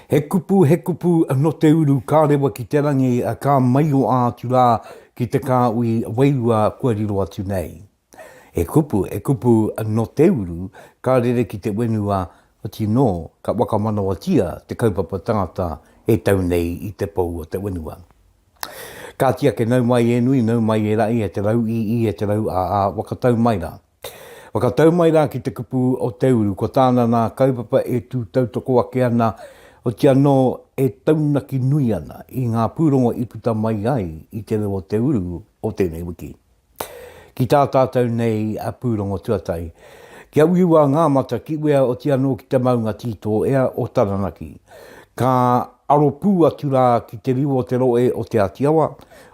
He kupu, he kupu no te uru ka rewa ki te rangi, ka maioa atu ra ki te kaui wairua kua riro atu nei. He kupu, he kupu no te uru ka rere ki te wenua, otii no ka wakamanawatia te kaupapa tangata e tau nei i te pou o te wenua. Kāti ake nau mai e nui, nau mai e raʻi, e te rau ī ī, e te rau ā ā, whakatau mai rā. Whakatau mai rā ki te kupu o te uru, ko tāna nā kaupapa e tū tautoko ake ana, oti anō e taunaki nui ana i ngā pūrongo i puta mai ai i te reo o te uru o tēnei wiki. Ki tā tātou nei a Pūrongo Tuatahi, kia uiua ngā mata ki uea oti anō ki te maunga tītō ea o Taranaki. Ka aro pū atu rā ki te riu o te roe o Te Āti Awa,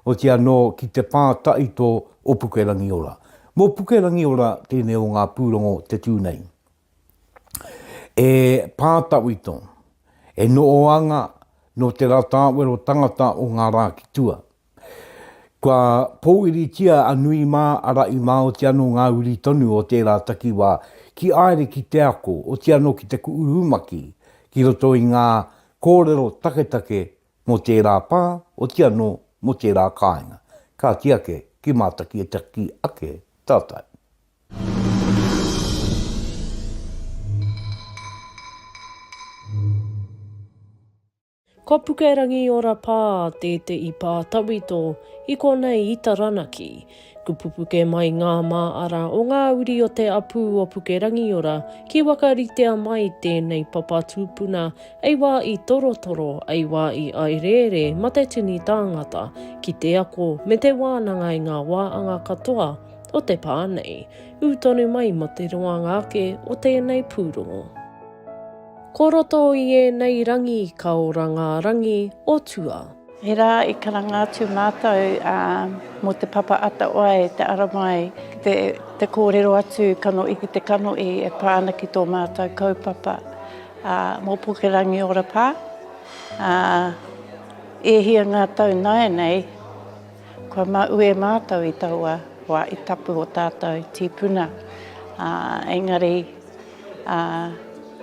oti anō ki te pā taito o Pukerangiora. Mō Pukerangiora tēnei o ngā pūrongo te tū nei. E pā tawhito, e noo anga nō te rā tāwero tangata o ngā rā ki tua. Kua pōuritia a Nui mā, arā i mā oti anō ngā uri tonu o tērā takiwā ki āere ki te ako, oti anō ki te kuʻu rumaki ki roto i ngā kōrero taketake mō tērā pā, oti anō mō tērā kāinga. Kāti ake, ki mātakitaki ake tātou. Ko Pukerangi Ora Pā te te i pā tawhito i konei i Taranaki. Kupupuke mai ngā mā ara o ngā uri o te apū o Pukerangiora ki wakaritea mai tēnei papa tūpuna ei wā i torotoro, ei wā i aerēre ma te tini tāngata ki te ako me te wānanga i ngā wā anga katoa o te pā nei. Ū tonu mai ma te roanga ake o tēnei pūrongo. Ko roto i ēnei rangi ka ora ngā rangi o tua. He rā i karanga atu mātou mō te papa atawhai, te ara mai, te kōrero atu kanohi ki te kanohi e pā ana ki tō mātou kaupapa. Mō Puke Rangiora Pā, e hia ngā tau nāianei kua māu e mātou i taua wā i tapu o tātou tīpuna, engari, Ā,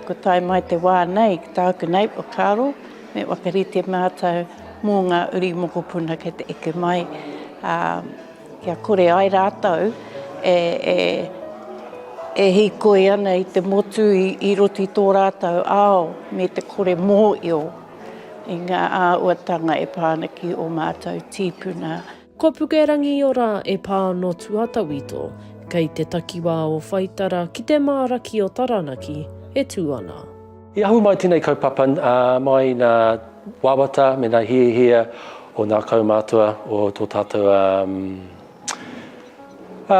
kua tae mai te wā nei ki tāku nei whakaaro, me whakarite mātou mō ngā uri mokopuna kei te eke mai, ā, kia kore ai rātou e, e, e hīkoi ana i te motu i, i roto i tō rātou ao me te kore mōhio i ngā āhuatanga e pā ana ki ō mātou tīpuna. Ko Pukerangiora e pā no Tuatawito, kei te takiwā o Whaitara ki te māraki o Taranaki, e tū ana. I ahu mai tenei kaupapa mai na wawata me na hiahia o na kaumatua o to tatou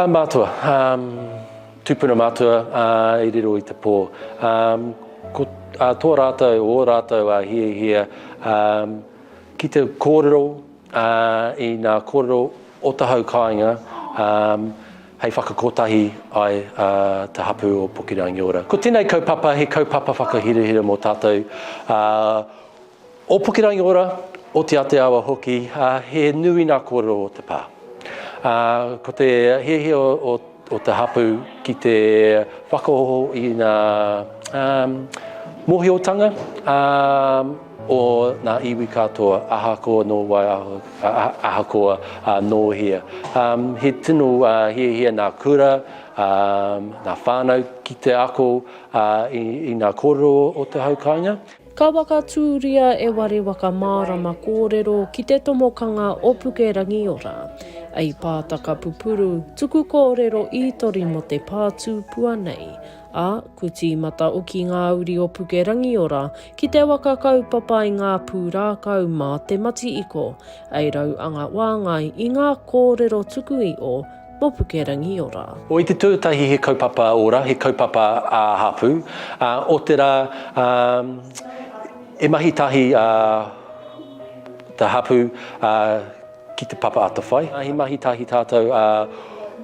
matua, tupuna matua i riro i te po. Ko to ratou, o ratou hiahia ki te korero, ā, i ngā kōrero o te hau kāinga, ā, hei whakakotahi ai ā te hapū o Pukerangiora. Ko tēnei kaupapa he kaupapa whakahirahira mō tātou ā, o Pukerangiora, o Te Ate Awa hoki, ā, he nui ngā kōrero o te pā. Ā, ko te hiahia o. o te hapū ki te whakaoho i ngā mōhiotanga o ngā iwi katoa, ahakoa nō wai, ahakoa nō hea. He tino hiahia ngā kura, ngā whānau ki te ako i ngā kōrero o te hau kāinga. Ka whakatūria e Ware Waka Mārama kōrero ki te tomokanga o Puke Rangiora. Ei pātaka pupuru, tuku kōrero ītori mō te pātūpua nei. Ā, kua tīmata oki ngā uri o Puke Rangiora ki te waka kaupapa i ngā pūrākau mā te mati iko. Ei rau anga wāngai i ngā kōrero tuku i o, mō Pukerangiora. O i te tuatahi he kaupapa ora, he kaupapa ā hapū, ā, otirā, ā, e mahi tahi ā te hapū ā ki te papa atawhai. He mahi tahi tātou ā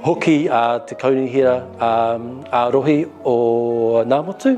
hoki ā te Kaunihera ā Rohi o Ngāmotu.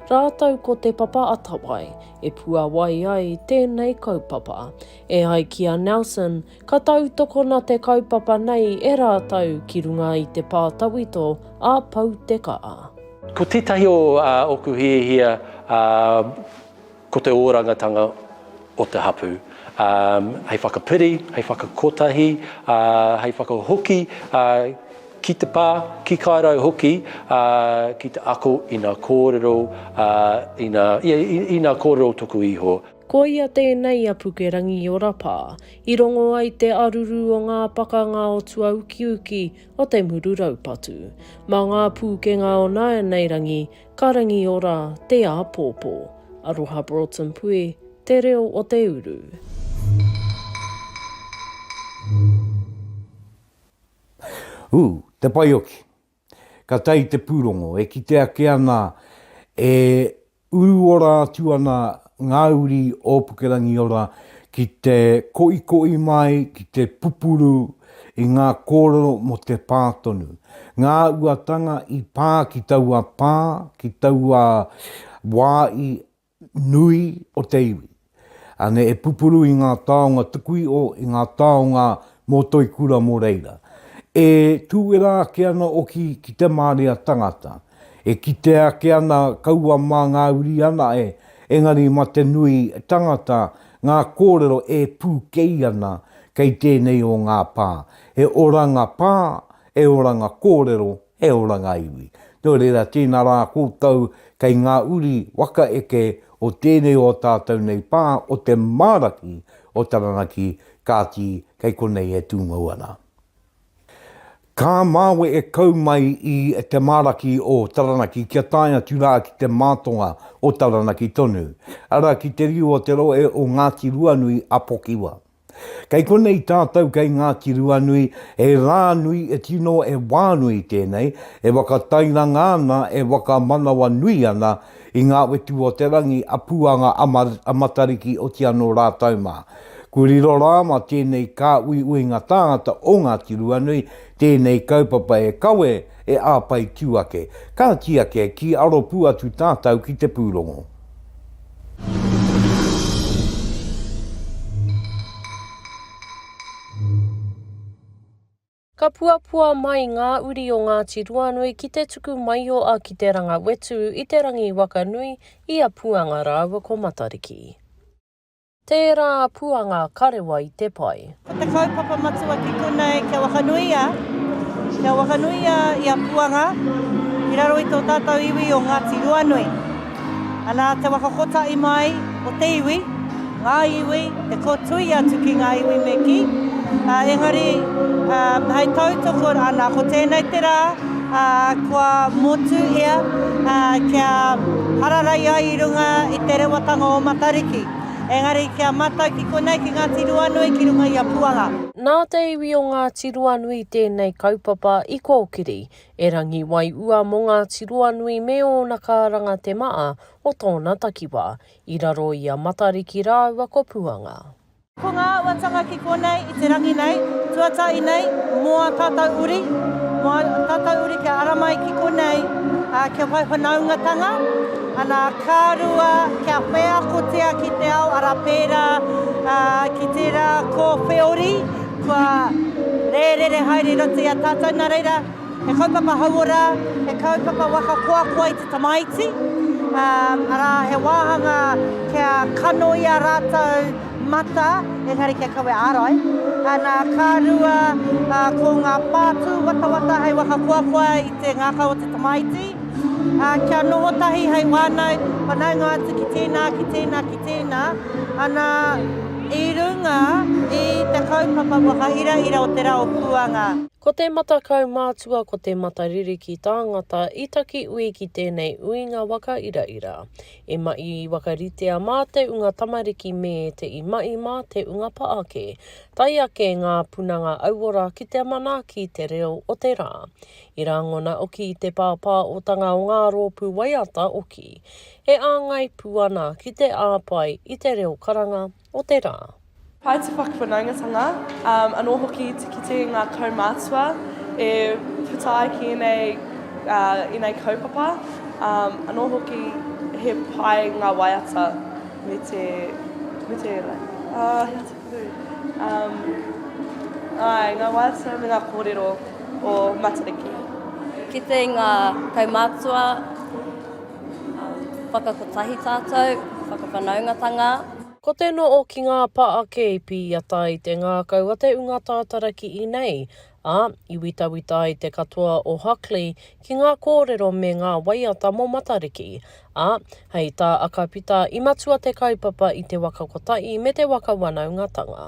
Rātou ko Te Papa Atawai e puawai ai tēnei kaupapa. E ai ki a Nelson, ka tautokona te kaupapa nei e rātou ki runga i te pā tawhito a Pou Te Kaa. Ko tētahi o ā oku hiahia ā ko te ōrangatanga o te hapū ā hei whakapiri, hei whakakotahi ā hei whakahoki ā Ki te pā, ki Kairau hoki, ā, ki te ako i nā kōrero, ā, i nā, ia, i nā kōrero o toku iho. Koia tēnei a Pukerangiora pā, i rongo ai te aruru o ngā pakanga o tuaukiuki o te muru raupatu. Mā ngā pūkenga o nāianei rangi, ka rangiora te āpōpō. Aroha Broughton Pui, Te Reo o te Uru. Ū, te paioki. Ka tae te pūrongo, e kite ake ana e uru ora atu ana ngā uri o Pukerangiora ki te koikoi mai, ki te pupuru i ngā kōrero mō te pā tonu. Ngā uatanga i pā ki taua pā, ki taua wā i nui o te iwi. Ane e pupuru i ngā taonga tukui'o, i ngā taonga mō Toikura mō reira. E tūera ake ana oki ki te māria tangata. E kitea ake ana kaua mā ngā uri ana e, engari ma te nui tangata ngā kōrero e pūkei ana kei tēnei o ngā pā. He oranga pā, he oranga kōrero He ora ngā iwi. Nō reira, tēnā rā koutou kei ngā uri waka eke o tēnei o tātou nei pā o te māraki o Taranaki, kāti, kei konei e tūngou ana. Ka māwe e kau mai i te māraki o Taranaki kia tae atu rā ki te mātonga o Taranaki tonu, arā, ki te riu o te rohe o Ngāti Ruanui a Pokiwa. Kei konei tātou kei Ngāti Ruanui, e Rānui, e tino e Wānui tēnei, e whakatairanga ana, e whakamanawa nui ana i ngā wetu o te rangi a Puanga a Matariki oti anō rātou mā. Kua riro rā mā tēnei kāuiuinga tāngata o Ngāti Ruanui tēnei kaupapa e kawe, e āpai tū ake. Ka tiaki, ki aro pū atu tātou ki te pūrongo. Ka puapua mai ngā uri o Ngāti Ruanui ki te tuku maioa ki te ranga wetu i te rangi waka nui i a Puanga rāua ko Matariki. Tērā puanga karewa i te pai. Ko te kaupapa matua ki konei kia whakanuia, kia whakanuia ia puanga i raro i tō tātou iwi o Ngāti Ruanui. Ana te waka kotahi mai o te iwi, ngā iwi, te kōtui atu ki ngā iwi me kī, engari hei tautoko rānā, ko tēnei te rā, ā, kua motuhia, ā, kia hararai ai i runga i te rewatanga o Matariki. Engari kia matau ki konei, ki Ngāti Ruanui, ki runga i a Puanga. Nā te iwi o Ngāti Ruanui tēnei kaupapa i kōkiri, erangi waiua mō Ngāti Ruanui me ōna kāranga te maa o tōna takiwā, i raro i a Matariki rāua ko Puanga. Ko ngā auatanga ki konei i te rangi nei, tuatahi nei, mō ā tātou uri, mō ā tātou uri kia ara mai ki konei, ā, kia whai whanaungatanga, ana, ka rua, kia wheakotia ki te ao, arā, pērā, ā, ki tērā kōwheori, kua rērere haere i roto i a tātou, nā reira, He kaupapa hauora, he kaupapa waka koakoa i te tamaiti, arā, he wāhanga kia kanoia rātou mata, engari kia kawea ārai. Nā, ka rua, ko ngā pātū watawata hei waka koakoa i te ngākau o te tamaiti, kia noho tahi hei wānau, whanaunga atu ki tēnā, ki tēnā, ki tēnā, ana, i runga i te kaupapa waka iraira o te rā o Puanga. Ko te mata kaumātua ko te mata ririki tāngata i taki ui ki tēnei uinga waka iraira. E maʻi wakaritea mā te unga tamariki me te i maʻi mā te unga pa ake, tae ake ngā punanga auora ki te manaaki te reo o te rā. I rāngona oki te pāpāotanga o ngā rōpū waiata oki. E āngai pū ana ki te āpae i te reo karanga, o te rā. Pai te whakawhanaungatanga, anō hoki te kite i ngā kaumātua e puta ai ki ēnei, ēnei kaupapa, anō hoki he pai ngā waiata me te, me te, he aha te kupu, āe, ngā waiata me ngā kōrero o Matariki. Kite i ngā kaumātua, whakakotahi tātou, whakawhanaungatanga. Ko te no o ki ngā pa a Keipi i ata i te ngakau a te unga tātara ki inei, a, i witawita ai te katoa o Huckley ki ngā kōrero me ngā waiata mo Matariki, a, hei tā Akapita i matua te kaupapa i te waka kotahi me te waka wanaungatanga.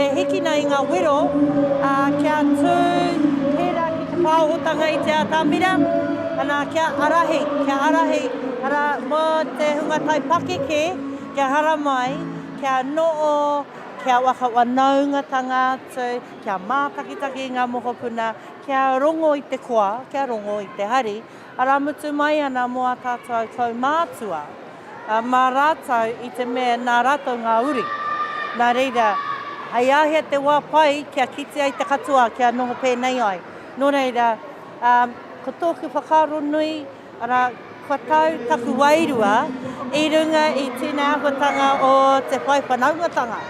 E hiki nei ngā wero, ā, kia tū tērā ki te pāohotanga i te atamira, anā, kia ārahi, kia ārahi, arā, mō te hunga tai pakeke kia haramai, kia noʻo, kia waka wanaungatanga atu, kia mātakitaki i ngā mokopuna, kia rongo i te koa, kia rongo i te hari, Ara mutu mai ana mo a tatou tou mātua, a ma ratou i te mea na ratou nga uri. Na reira, hei ahea te wa pai kia kite ai te katoa kia noho penei ai. No reira, a, ko toku whakaaro nui, ara, kua tau taku wairua i runga i tena ahuatanga o te whai whanaungatanga.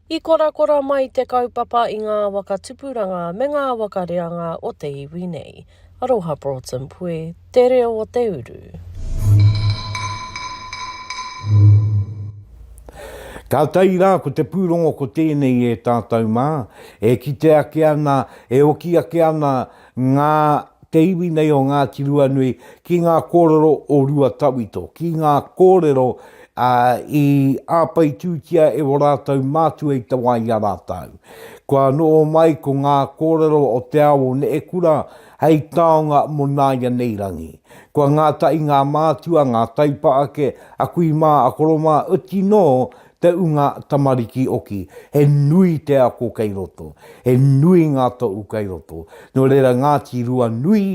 I korakora mai te kaupapa i nga waka tupuranga me nga waka reanga o te iwi nei. Aroha Broughton Pue te reo o te uru. Ka tae rā ko te pūrongo ko tēnei e tātou mā, e kite ake ana, e oki ake ana ngā te iwi nei o Ngāti Ruanui ki ngā kōrero o Ruatawito, ki ngā kōrero Ā, i āpaitūtia e ō rātou mātua i te wā i a rātou. Kua noho mai ko ngā kōrero o te ao o Neekura hei taonga mō nāianei rangi. Kua ngātahi ngā mātua, ngā taipa ake, a kui mā, a koro mā, oti nō te ūnga tamariki oki, he nui te ako kei roto, he nui ngā tohu kei roto. Nō reira, Ngāti Ruanui,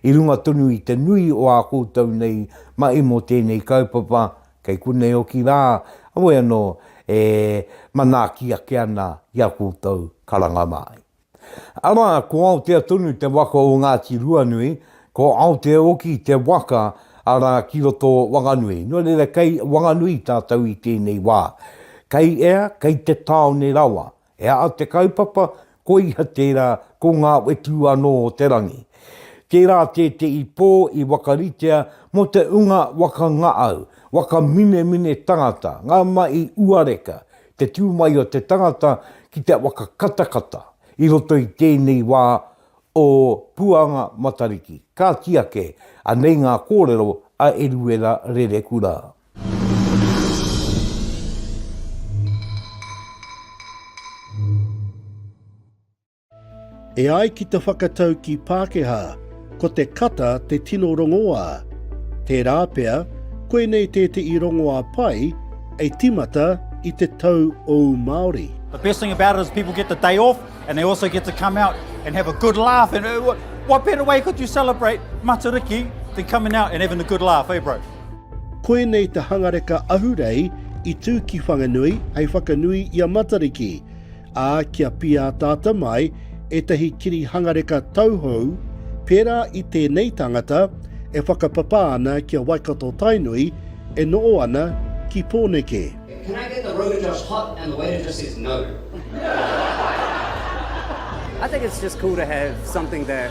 I runga tonu i te nui o ā koutou nei mahi mō tēnei kaupapa, kei konei hoki rā, heoi anō, e manaaki ake ana i a koutou karanga māi. Arā, ko Aotea tonu te waka o Ngāti Ruanui, ko Aotea hoki te waka, arā, ki roto o Wanganui. Nō reira, kei Wanganui tātou i tēnei wā. Kei ea, kei te tāone rawa. E ai te kaupapa, ko ia tērā, ko ngā whetū anō o te rangi. Tērā tētehi pō i wakaritea mō te unga waka ngaau, waka minemine tangata, ngā mahi uareka, te tū mai o te tangata ki te waka katakata i roto i tēnei wā o Puanga Matariki. Ka tiake, anei ngā kōrero a Eruera Rerekura. E ai ki te whakataukī Pākehā, ko te kata te tino rongoā. Tērā pea, koinei tētehi rongoā pai e tīmata i te tau ōu Māori. The best thing about it is people get the day off and they also get to come out and have a good laugh and what better way could you celebrate Matariki than coming out and having a good laugh, eh bro? Koinei te hangareka ahurei i tū ki Whanganui hei whakanui i a Matariki, ā, kia pīataata mai ētahi kiri hangareka tauhou pērā i tēnei tangata e whakapapa ana ki a Waikato-Tainui e noho ana ki Pōneke. Can I get the road to Josh hot and the waiter just says no? I think it's just cool to have something that.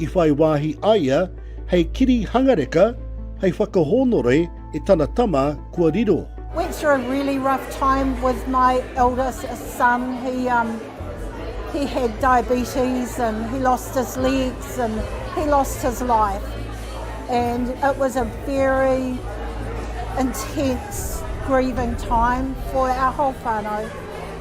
I whai wāhi a ia hei kiri hangareka hei whakahōnore e tana tama kua riro. Went through a really rough time with my eldest son, he um, he had diabetes and he lost his legs and he lost his life. And it was a very intense grieving time for our whole whānau.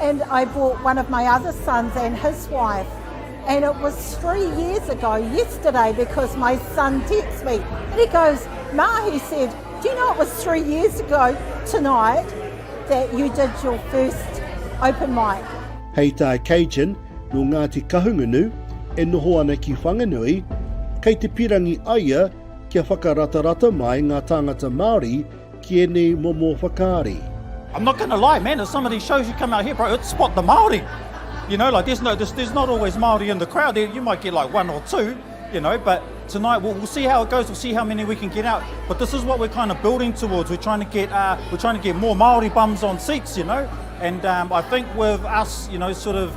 And I bought one of my other sons and his wife and it was three years ago yesterday because my son texts me and he goes, Ma, he said, do you know it was three years ago tonight that you did your first open mic? Hei tā Cajun, no Ngāti Kahungunu, e noho ana ki Whanganui, kei te pirangi aia kia whakaratarata mai ngā tāngata Māori Ki enei momo whakaari. I'm not gonna lie man at some of these shows you come out here bro it's spot the Māori you know like there's no there's, there's not always Māori in the crowd there you might get like one or two you know but tonight we'll, we'll see how it goes we'll see how many we can get out but this is what we're kind of building towards we're trying to get uh, we're trying to get more Māori bums on seats you know and um, I think with us you know sort of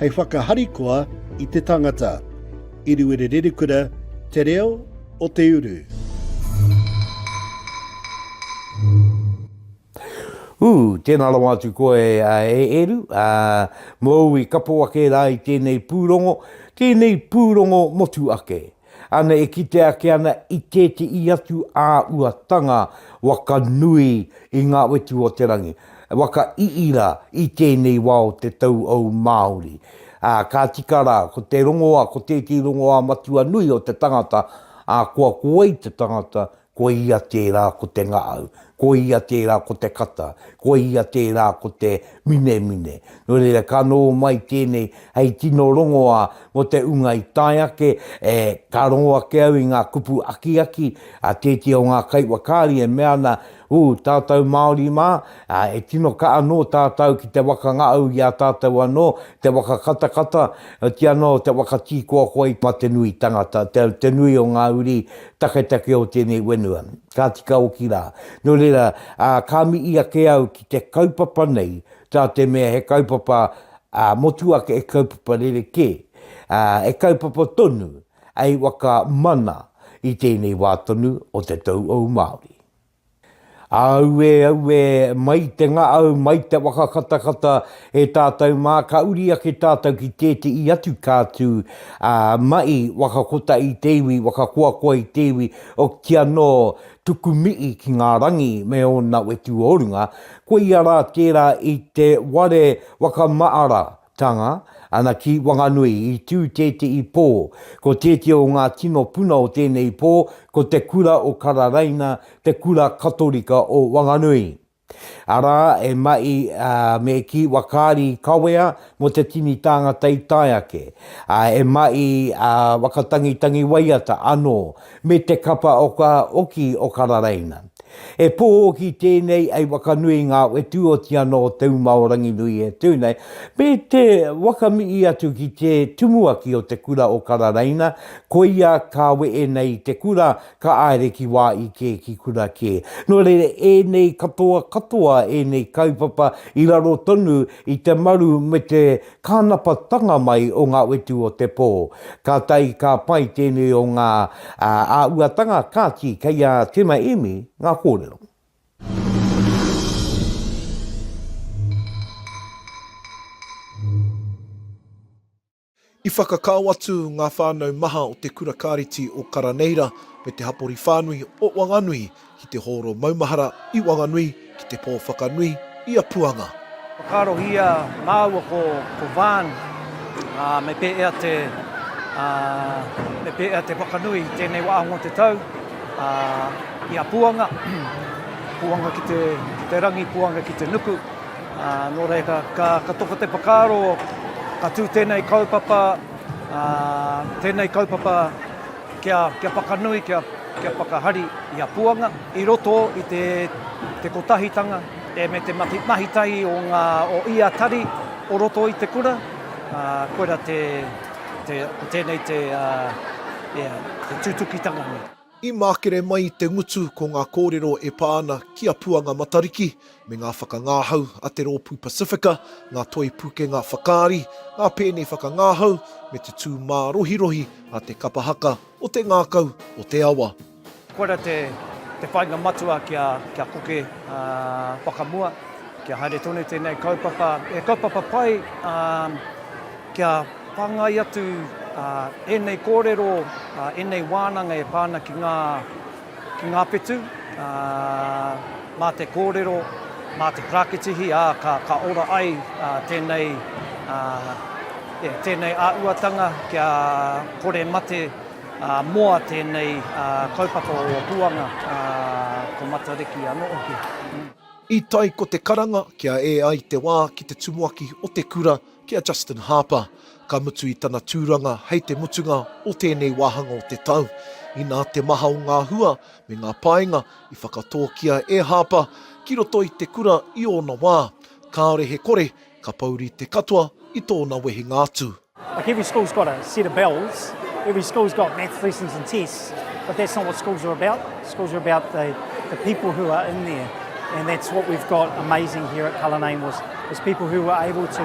hei whakaharikoa i te tangata. Iriwiri Rerekura, Te Reo o te Uru. Ū, tēnā rawa atu koe e Eru, ā, mōu i kapo ake rā i tēnei pūrongo, tēnei pūrongo motu ake. Ana e kite ake ana i tēteī atu āuatanga waka nui i ngā wetu o te rangi, waka iira i tēnei wā o te tauau Māori. Ā, ka tika rā, ko te rongoā, ko tēteī rongoā matua nui o te tangata, ā, kua kowai te tangata Ko ia tērā ko te ngaau, ko ia tērā ko te kata, ko ia tērā ko te minemine. Nō reira, ka noho mai tēnei hei tino rongoā mō te ūnga i tae ake, ē, ka rongo ake au i ngā kupu akiaki a tētehi o ngā kaiwhakaari e mea ana, Ū, tātou Māori mā, ā, e tino kaha anō tātou ki te waka ngaau i a tātou anō, te waka katakata, otianō te waka tīkoakoa i mate nui tangata, te nui o ngā uri, Taketake o tēnei whenua, ka tika hoki rā. Nō reira, ā, ka mihi ake au ki te kaupapa nei, tā te mea he kaupapa, ā, motuhake he kaupapa rerekē, ā, he kaupapa tonu hei whakamana i tēnei wā tonu o te tauhou Māori. Auē, auē, mai te ngaau, mai te waka katakata, e tātou mā, ka uri ake tātou ki tēteī atu kātū, ā, mai, waka kota i te iwi, waka koakoa i te iwi, o, ki anō, tuku mihi ki ngā rangi me ōna wetu o runga, koia rā tērā i te ware waka maara, Tanga, ana ki Wanganui, i tū tētehi pō. Ko tētehi o ngā tino puna o tēnei pō, ko te kura o Kararaina, te kura Katorika o Wanganui. Arā, e mahi ā, me kī whakaari kawea mō te tini tāngata i tae ake, ā, e mahi ā, whakatangitangi waiata anō me te kapa o ka oki o Kararaina. E pō hoki tēnei ai wakanui i ngā whetū oti anō o te uma o Ranginui e tū nei, me te wakamii atu ki te tumuaki o te kura o Kararaina, koia ka wehe nei te kura, ka aere ki wā i kē, ki kura kē. Nō reira, ēnei katoa katoa ēnei kaupapa i raro tonu i te maru me te kānapatanga mai o ngā whetū o te pō. Kātahi ka pai tēnei o ngā āhuatanga, kāti, kei a Tima Emi ngā kōrero. I whakakao atu ngā whānau maha o te Kura Kāreti o Karaneira me te hapori whānui o Wanganui Ki te hōro maumahara i Wanganui, ki te pō whakanui i a Puanga. Whakaarohia māua ko Vaan, ā, me pēea te, ā, me pēea te whakanui i tēnei wā mō te tau, ā, i a Puanga, Puanga ki te, ki te rangi, Puanga ki te nuku, ā, nō reira ka, ka toko te whakaaro ka tū tēnei kaupapa, ā, tēnei kaupapa. Kia whakanui, kia whakahari i a Puanga i roto i te kotahitanga me te mahitahi o ia tari o roto i te kura, koira te, ko tēnei te tutukitanga nei. I mākere mai i te ngutu ko ngā kōrero e pā ana ki a Puanga Matariki me ngā whakangāhau a te Rōpū Pasifika, ngā toi pūkenga whakaari, ngā pēne whakangāhau, me te tū mārohirohi a te kapa haka o te ngākau o te awa. Koira te whāinga matua kia koke whakamua, kia haere tonu tēnei kaupapa, he kaupapa pai kia whāngai atu ēnei kōrero, ēnei wānanga e pā ana ki ngā. ki ngā whetū, ā, mā te kōrero, mā te prakitihi, ā, ka, ka ora ai ā, tēnei, ā, e, tēnei āhuatanga kia kore mate ā, moa tēnei ā, kaupapa o Puanga, ā, ko Matariki anō hoki. I tae ko te karanga kia ē ai te wā ki te tumuaki o te kura ki a Justin Harper. Ka mutu i tana tūranga hei te mutunga o tēnei wāhanga o te tau. Inā te maha o ngā hua me ngā painga i whakatōkia e Harper ki roto i te kura i ōna wā, kāore he kore ka pouri te katoa i tōna wehenga atu. Like every school's got a set of bells, every school's got maths lessons and tests, but that's not what schools are about. Schools are about the the people who are in there, and that's what we've got amazing here at Cullinane was was people who were able to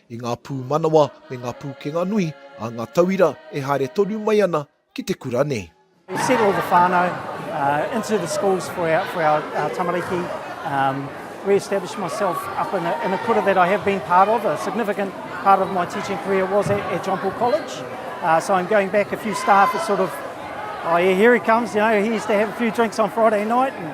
i ngā pūmanawa me ngā pūkenga nui a ngā tauira e haere tonu mai ana ki te kura nei. We've sent all the whānau uh, into the schools for our, for our, our tamariki. Um, re-established myself up in a, in a kura that I have been part of. A significant part of my teaching career was at, at John Paul College. Uh, so I'm going back a few staff that sort of, oh yeah, here he comes, you know, he used to have a few drinks on Friday night. And,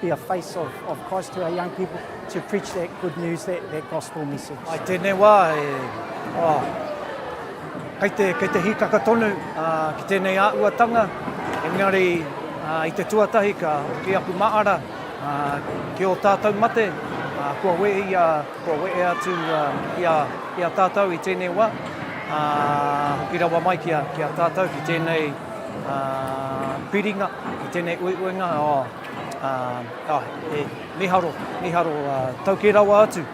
Be a face of of Christ to our young people to preach that good news that that gospel message. I tēnei wā e oh, kei te kei te hikaka tonu uh, ki tēnei āuatanga engari uh, i te tuatahi ka ki aku maara uh, ki o tātou mate uh, kua we ia kua we e atu uh, ia ia tātou i tēnei wā uh, hoki rawa mai ki a, ki a tātou ki tēnei uh, piringa ki tēnei uiuinga oh, Ā, ā, e, mīharo, mīharo, ā, tau kē rawa atu.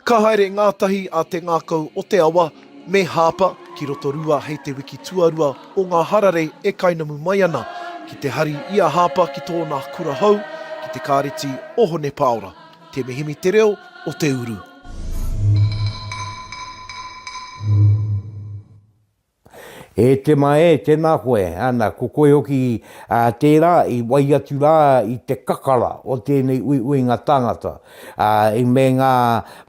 Ka haere ngātahi a Te Ngākau o Te Awa me Hāpa ki Rotorua hei te wiki tuarua o ngā hararei e kainamu mai ana, ki te hari i a Hāpa ki tōna kura hou, ki te Kāreti o Hone Pāora. Te Mihimi te reo o te uru. E te ma e, tēnā koe, ana, ko koe hoki ā tērā i wai atu rā i te kakara o tēnei uiuinga tāngata, ā, i me ngā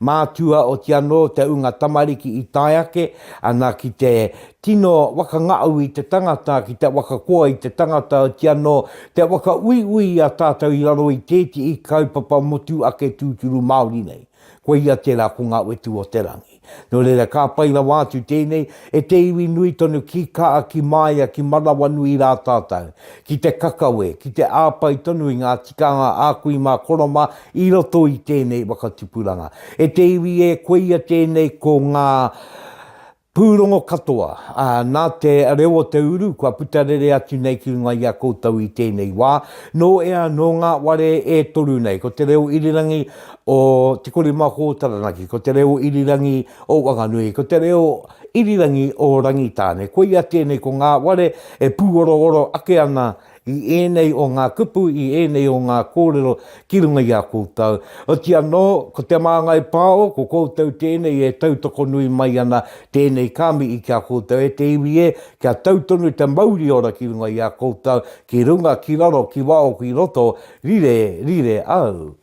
mātua oti anō te ūnga tamariki i tae ake ana ki te tino wakangaau i te tangata, ki te wakakoa i te tangata oti anō te whakauiui i a tātou i raro i tētihi kaupapa motu ake tūturu Māori nei. Koia tērā ko Ngā Whetū o te Rangi. Nō reira, ka pai rawa atu tēnei e te iwi nui tonu ki Kaa, ki Māia, ki Manawanui rā tātou, ki te kakawe, ki te āpai tonu i ngā tikanga a kui mā Koroma i roto i tēnei whakatupuranga. E te iwi e, koia tēnei ko ngā pūrongo katoa, ā, nā te reo o te uru kua puta rere atu nei ki runga i a koutou i tēnei wā. Nō ea, nō ngā ware e toru nei, ko te reo irirangi, o Te Korimako o Taranaki, ko te reo irirangi o Wanganui, ko te reo irirangi o Rangitāne. Koia tēnei ko ngā ware e pūorooro ake ana i ēnei o ngā kupu, i ēnei o ngā kōrero ki runga i a koutou. Oti anō, ko Te Māngai Pāo, ko koutou tēnei e tautoko nui mai ana tēnei kāmihi ki a koutou. E te iwi e, kia tau tonu te mauri ora ki runga i a koutou, ki runga, ki raro, ki waho, ki roto, rire, rire au.